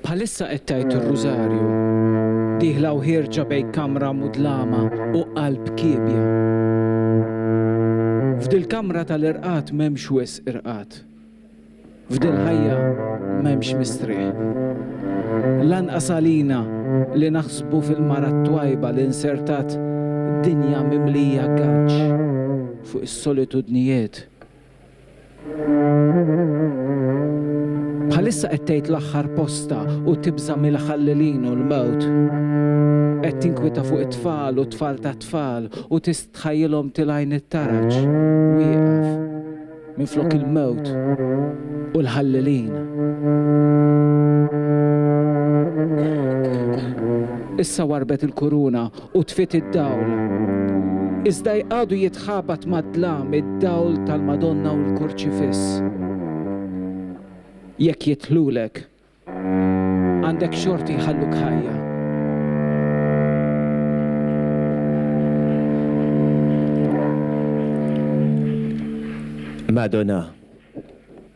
Bħalissa qed tgħid ir-Rużarju. Dieħla u ħierġa bejn kamra mudlama u qalb kiebja. F'dil-kamra tal-irqad m'hemmx wisq irqad. F'dil-ħajja m'hemmx mistrieħ. Lanqas għalina li naħsbu fil-mara t-twajba li nsertat dinja mimlija gaġġ fuq is-solitudnijiet. Bħalissa qed tgħid l-aħħar posta u tibża' mill-ħallelin u l-mewt. Qed tinkwita fuq it-tfal u t-tfal tat-tfal u tistħajjilhom tilgħin it-taraġ wieqaf minflok il-mewt u l-ħallelin. Issa warrbet il-kuruna u tfiet id-dawl. Iżda jqagħdu jitħabat mad-dlam id-dawl tal-Madonna u l-Kurċifiss. Jekk jidħlulek, għandek xorti jħalluk ħajja. Madonna.